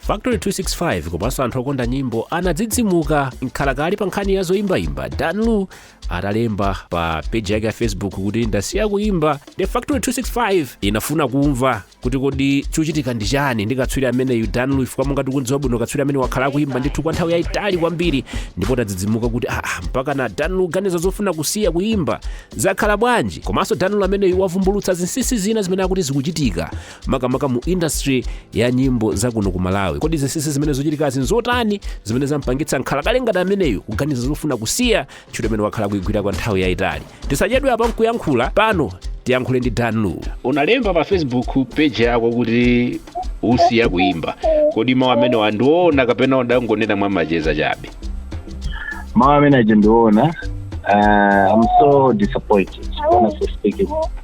factory 265 komanso anthu okonda nyimbo anadzidzimuka mkhalakale pa nkhani ya zoyimbayimba dan lu atalemba pa peji yake ya facebook kuti ndasiya kuyimba the factory 265 inafuna kumva kuti kodi chochitika ndi chani ndi katswiri ameneyu dan lu Afrika monga tikudziwa bwino katswiri ameneyu wakhala akuyimba ndithu kwa nthawi yayitali kwambiri ndipo tadzidzimuka kuti ah, mpaka na dan lu ganiza zofuna kusiya kuyimba zakhala bwanji komanso dan lu ameneyu wavumbulutsa zinsinsi zina zimene akuti zikuchitika makamaka mu industry ya nyimbo za kuno ku malawi kodi zinsinsi zimene zochitikazi nzotani zimene zampangitsa mkhalakale ngati ameneyu kuganiza zofuna kusiya ntchito imene wakhala kuigwira kwa nthawi yayitali tisachedwe apa nkuyankhula pano tiyankhule ndi dan lu unalemba pa facebook page yako kuti usiya kuimba kodi mawu amenewa ndi oona kapena udangonena mwa macheza chabe mawu amene aja ndi oona uh, i'm so disappointed honestly speaking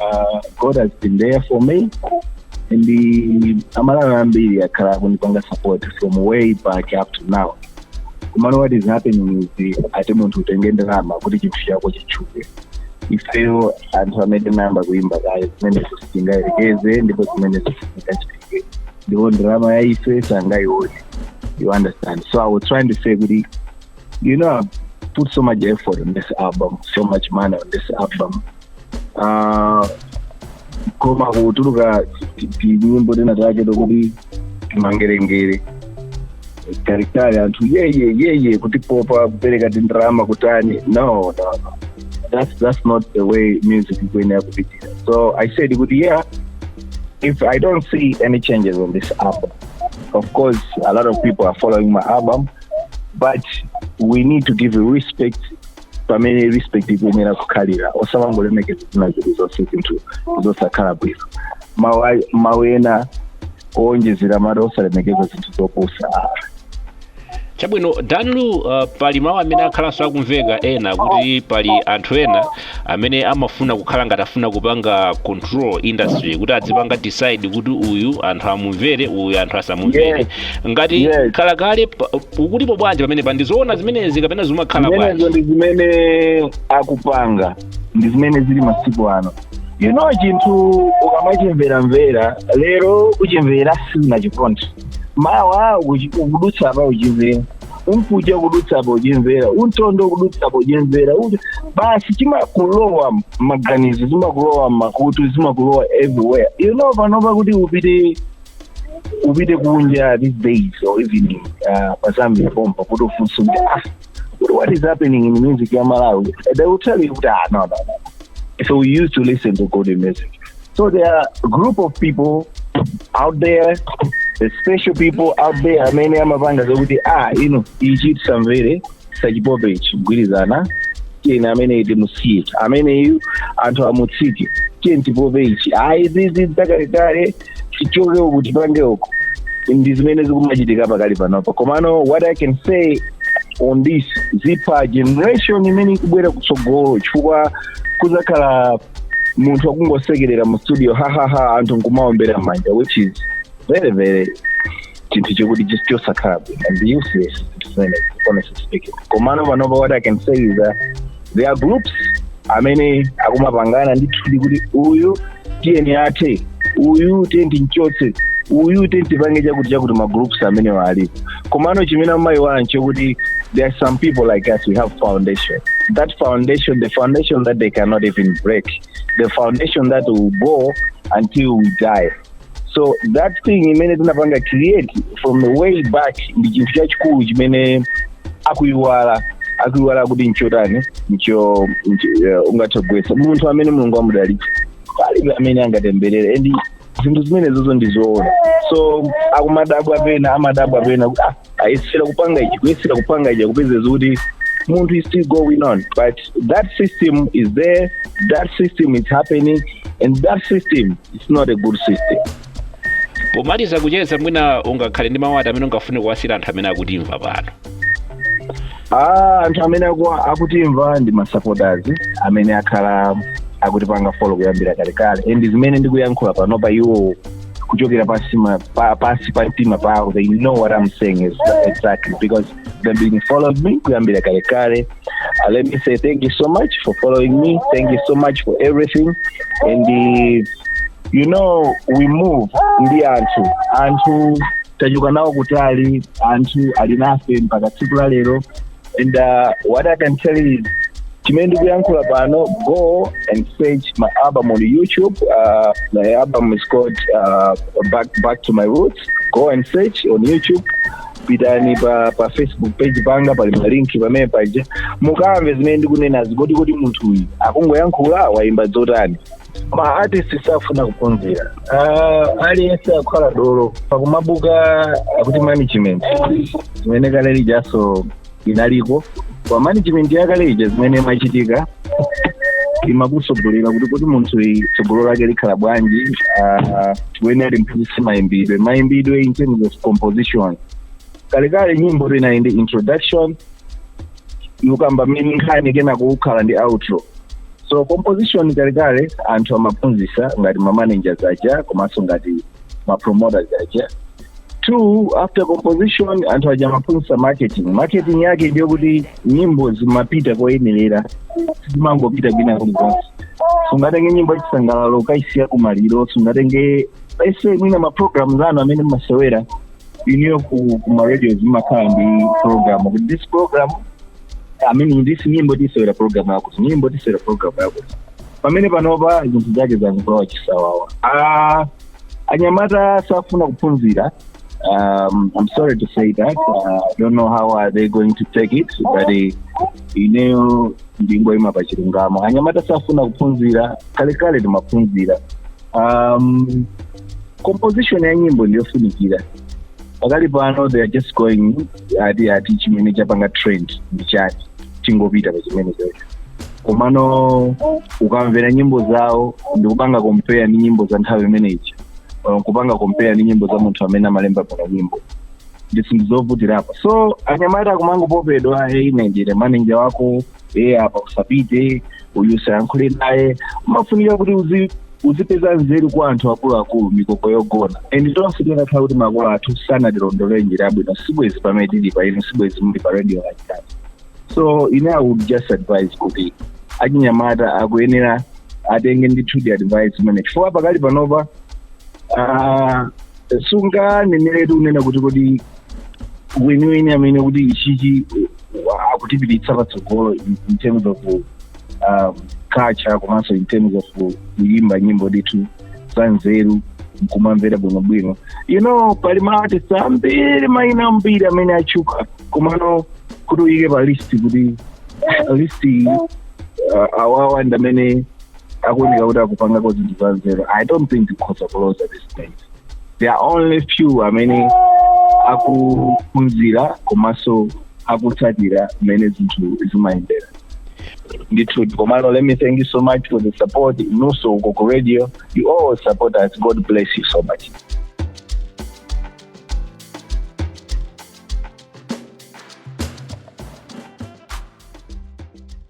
Uh, God has been there for me and the amalawi ambiri akhala akundipanga support from way back up to now komano what is happening is the ati munthu utenge ndalama kuti chinthu chako chitchuke ifeyo anthu amene tinayamba kuimba kale zimenezo sitingayerekeze ndipo zimenezo sitingachitike ndipo ndalama yaife sangayione you understand so i was trying to say kuti you know I've put so much effort on this album so much money on this album Ah, koma kutuluka ti- tinyimbo tina take tokuti timangerengere taritari anthu yeye yeye kutipopa kupereka tindarama kutani no no no that's, that's not the way music ikuyenera kupitira so i said kuti yeah if i don't see any changes on this album of course a lot of people are following my album but we need to give respect pamene respect ikuyenera kukhalira osamangolemekeza zina zili zonse zinthu zosakhala bwino mawu a- mawu ena owonjezera mwati osalemekeza zinthu zopusa chabwino dan lu uh, pali mawu amene akhalanso akumveka ena kuti pali anthu ena amene amafuna kukhala ngati afuna kupanga control industry kuti adzipanga decide kuti uyu anthu amumvere uyu anthu asamumvere Yes. ngati Yes. mkhalakale pa- ukutipo bwanji pamenepa ndi zoona zimenezi kapena zimakhala zimenezo bwanji ndi zimene akupanga ndi zimene zili masiku ano you know chinthu ukamachimveramvera lero uchimvera sunachikonde mawa ukuchi- ukudutsa apa uchimvera mkucha ukudutsa apa uchimvera mtondo ukudutsa apa uchimvera Uchi- basi chimakulowa maganizo zimakulowa makutu zimakulowa everywhere you know panopa kuti upite upite kunja these days or even uh, pa zambia pompa kuti ufunse kuti ah kuti what is happening in music ya malawi they will tell you kuti ah no no no so we used to listen to good music so there are a group of people out there the special people out there amene amapanga zokuti ah ino ichi tisamvere tisachipope ichi kugwirizana tiyeni amene uja timusiye ameneyu anthu amutsitse tiyeni tipope ichi ayi izi zakalekale tichoke uku tipange uku ndi zimene zikumachitika pakali panopa komano what i can say on this zipha generation imene ikubwera kutsogolo chifukwa kuzakhala munthu akungosekerera mu studio hahaha anthu nkumaombera mmanja which is very very chinthu chikuti just chosakhala bwino and useless zimene honestly speaking komano panopa what i can say is that there are groups amene akumapangana ndithu kuti uyu tiyeni athe uyu tiyeni tinchotse uyu tiyeni tipange chakuti chakuti magroups amenewa alipo komano chimene amayiwala nchokuti there are some people like us we have foundation that foundation the foundation that they cannot even break the foundation that will go until we die so that thing imene tinapanga create from the way back ndi chinthu chachikulu chimene akuyiwala akuyiwala kuti nchotani ncho ncho- eh, ungathe kugwesa munthu amene Mulungu amudalitsa palibe amene angatemberere and zinthu zimenezozo ndizoona so akumadabwa pena amadabwa pena kuti ah ayesera kupanga ichi kuyesera kupanga ichi akupeza zoti munthu is still going on but that system is there that system is happening and that system is not a good system pomaliza kucheza mwina ungakhale ndi mawu ati amene ungafune kuwasiira anthu amene akutimva pano Ah, anthu amene aku- akutimva ndi masupporters amene akhala akutipanga follow kuyambira kalekale and zimene ndikuyankhula panopa iwo kuchokera pasi ma- pa- pasi pa mtima pawo they know what i'm saying is exactly because they've been following me kuyambira kale kale uh, let me say thank you so much for following me thank you so much for everything and uh, you know we move ndi anthu anthu tachoka nawo kutali anthu ali nafe mpaka tsiku la lero and uh, what i can tell you is chimene ndikuyankhula pano go and search my album on youtube uh, my album is called uh, back, back to my roots go and search on youtube pitani pa, pa facebook page panga pali malinki pamene paja mukamve zimene ndikunenazi kuti kodi munthu uyu akungoyankhula wayimba zotani ma artist safuna kuphunzira uh, aliyense akukhala dolo pakumabwera akuti management zimene kale lijanso inaliko kwa management yakale ija zimene imachitika imakutsogolera kuti kuti munthu uyu tsogolo lake likhala bwanji uh, mwene anali mphunzitsi mayimbidwe mayimbidwe in terms of composition kalekale nyimbo inali ndi introduction ukukamba mmene nkhani kenako kukhala ndi outro so composition kalekale anthu amaphunzitsa ngati ma managers aja komanso ngati ma promoters aja two after composition anthu aja amaphunzitsa marketing marketing yake ndiye kuti nyimbo zimapita koyenerera sizimangopita kwina kulikonse sungatenge nyimbo yachisangalalo ukaisiya kumaliro sungatenge ese mwina maprogramu zanu amene mmasewera ineyo ku ku ma radio zimakhala ndi program kuti this program i mean this nyimbo tisewera program yakuti nyimbo tisewera program yakuti pamene panopa zinthu zake zangokhala chisawawa Ah, anyamata safuna kuphunzira um, i'm sorry to say that uh, i don't know how are they going to take it but eh, ineyo ndingoima pa chilungamo anyamata safuna kuphunzira kalekale timaphunzira um, composition ya nyimbo ndiyofunikira pakali pano they are just going ati ati chimene chapanga trend ndi chati tingopita pa chimene chocho komano ukamvera nyimbo zawo ndikupanga compare ndi nyimbo za nthawi imene ija or kupanga compare ndi nyimbo za munthu amene amalemba bwino nyimbo ndi ndi zovutirapo so anyamata akumangopopedwa hey ndine manager wako e apa usapite uyu usayankhule naye umafunika kuti uzi uzipeza nzeru kwa anthu akuluakulu mikoko yogona and tonse tinakhala kuti makolo athu sanatilondolere njira yabwino sibwezi pamene tili pano sibwezi muli pa radio like that so ine i would just advise kuti achinyamata akuyenera atenge ndithudi advice imene chifukwa pakali panopa ah, sunganeneretu kunena kuti kodi weniweni amene kuti ichichi uh, akutipititsa patsogolo in in terms of um, culture komanso in terms of kuyimba nyimbo ndithu za nzeru nkumamvera bwinobwino you know pali ma artist ambiri maina ambiri amene atchuka komano kuti uyike pa list kuti list iyi, uh, awawa ndi amene akuoneka kuti akupangako zinthu za nzeru i don't think tikhoza kuloza this time there are only few amene akuphunzira komanso akutsatira mmene zinthu zimayendera ndithu komano let me thank you so much for the support inunso uko ku radio you all support us god bless you so much